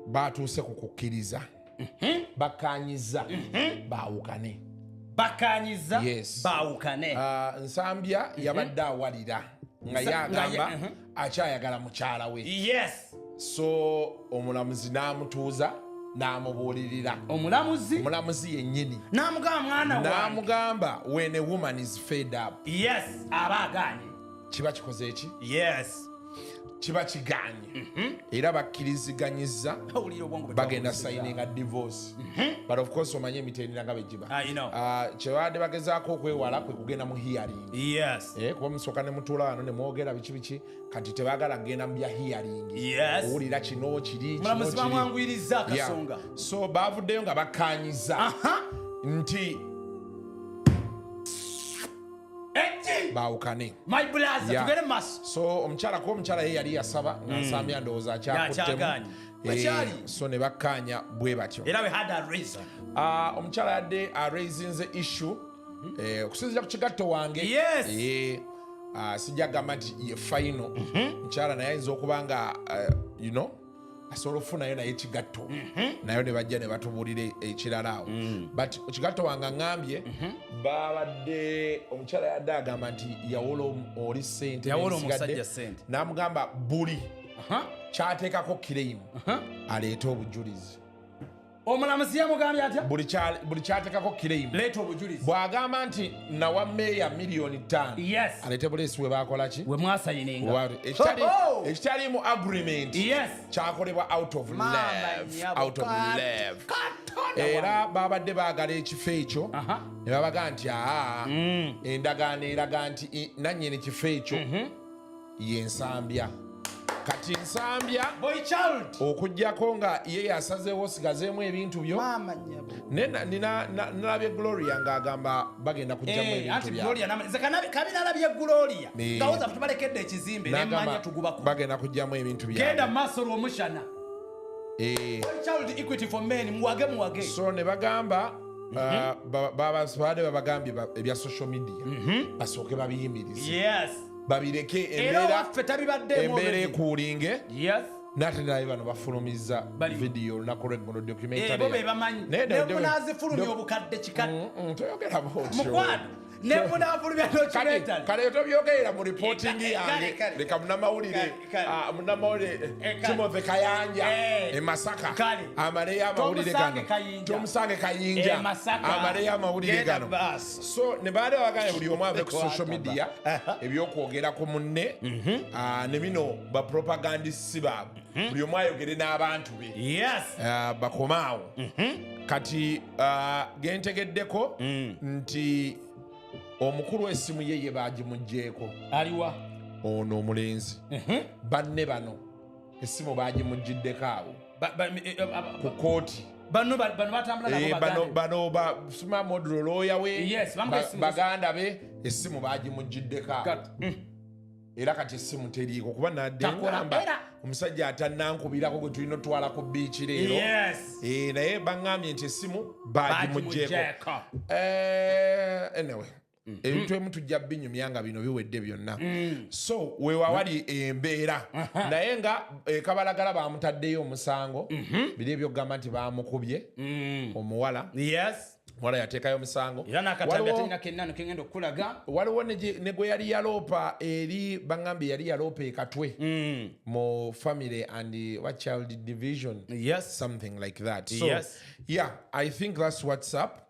baatuuse ku kukkiriza mhm. bakkaanyizza mhm. baawukane bakkaanyizza baawukane ah, nsambya mhm. yabadde awalira nga yagamba akyayagala mukyala we yes so omulamuzi n'amutuuza n'amubuulirira omulamuzi omulamuzi yennyini n'amugamba mwana n'amugamba when a woman is fed up yes aba agaanye kiba kikoze eki yes kiba kiganye mhm. era bakkiriziganyiza bagenda sayininga divorce mhm. but of course omanye emitendera nga begiba ah, ah, kyebabadde bagezaako okwewala kwe kugenda mu hearing eh, kuba musooka ne mutuula wano ne mwogera biki biki kati tebagala kugenda mu bya hearing owulira kino kiri so bavuddeyo nga bakkanyiza nti baawukane so omukyala kuba omukyala ye yali yasaba hmm. nasambya ndowooza akyakuttemu eh, so ne bakkaanya bwe batyo ah, omukyala yadde araisinze issue hmm. eh, okusinzira ku kigatto wange eh, ah, sijja gamba nti ye faino mhm. mukyala naye ayinza okuba nga you know asobola okufunayo naye kigatto mhm. nayo ne bajja ne batubuulira ekirala awo mm. but kigatto wange aŋambye mhm. babadde omukyala yadde agamba nti yawola oli sente n'amugamba buli kyateekako kireimu aleete obujulizi omulamuzi yamugambye atya buli kyatekako kireimu leeta obujulizi bw'agamba nti nawa meeya miliyoni ttaano yes aleete buleesi we baakola ki we mwasayininga ekitaliimu agreement yes kyakolebwa out of love out of love era babadde baagala ekifo ekyo ne babaga nti aa mm. endagaano eraga nti nanyini kifo ekyo mhm. ye nsambya kati nsambya okujjako nga ye yasazeewo sigazeemu ebintu byo nalabye gloria ng'agamba bagenda kujjamuebintubagenda kujjamu ebintu byaso ne bagamba babade babagambye ebya social media mhm. basooke babiyimirize babireke embeera ekuulinge nate naye bano bafulumiza vidiyo olunaku lweggulo documentarykale tobyogerera mu reporting yange leka munamawulire ah, munamawulire eh, eh, timothy kayanja eh. emasaka amaleyo amawulire gano tomusange kayinja amaleyo amawulire gano so ne baali abagambye buli omu ave ku social media ebyokwogera ku munne mhm. ah, ne bino bapropagandisi baabwe mhm. buli omu ayogere n'abantu be ah, bakomaawo mhm. kati ah, gentegeddeko mm. nti omukulu esimu ye ye bagimugyeko aliwa ono omulenzi banne bano esimu bagimugiddeko awo ku kooti bano basuma modulo looya we baganda be essimu bagimugiddeko mm. era kati essimu teriiko kuba naddengamba omusajja atanankubirako gwe tulina otwala ku biiki leero eh, naye baŋambye nti essimu bagimugyeko eh, anyway Mm-hmm. ebintu emu tujja binyumya nga bino biwedde byonna mm. so wewawali embeera naye nga ekabalagala eh, bamutaddeyo omusango mm-hmm. biri ebyokugamba nti bamukubye mm. omuwala wala yatekayo omusango waliwo ne gwe yali yaloopa eri bagambye yali yaloopa ekatwe mm. mu family and wa child division yes. something like that so yes. yeah i think thats whatsapp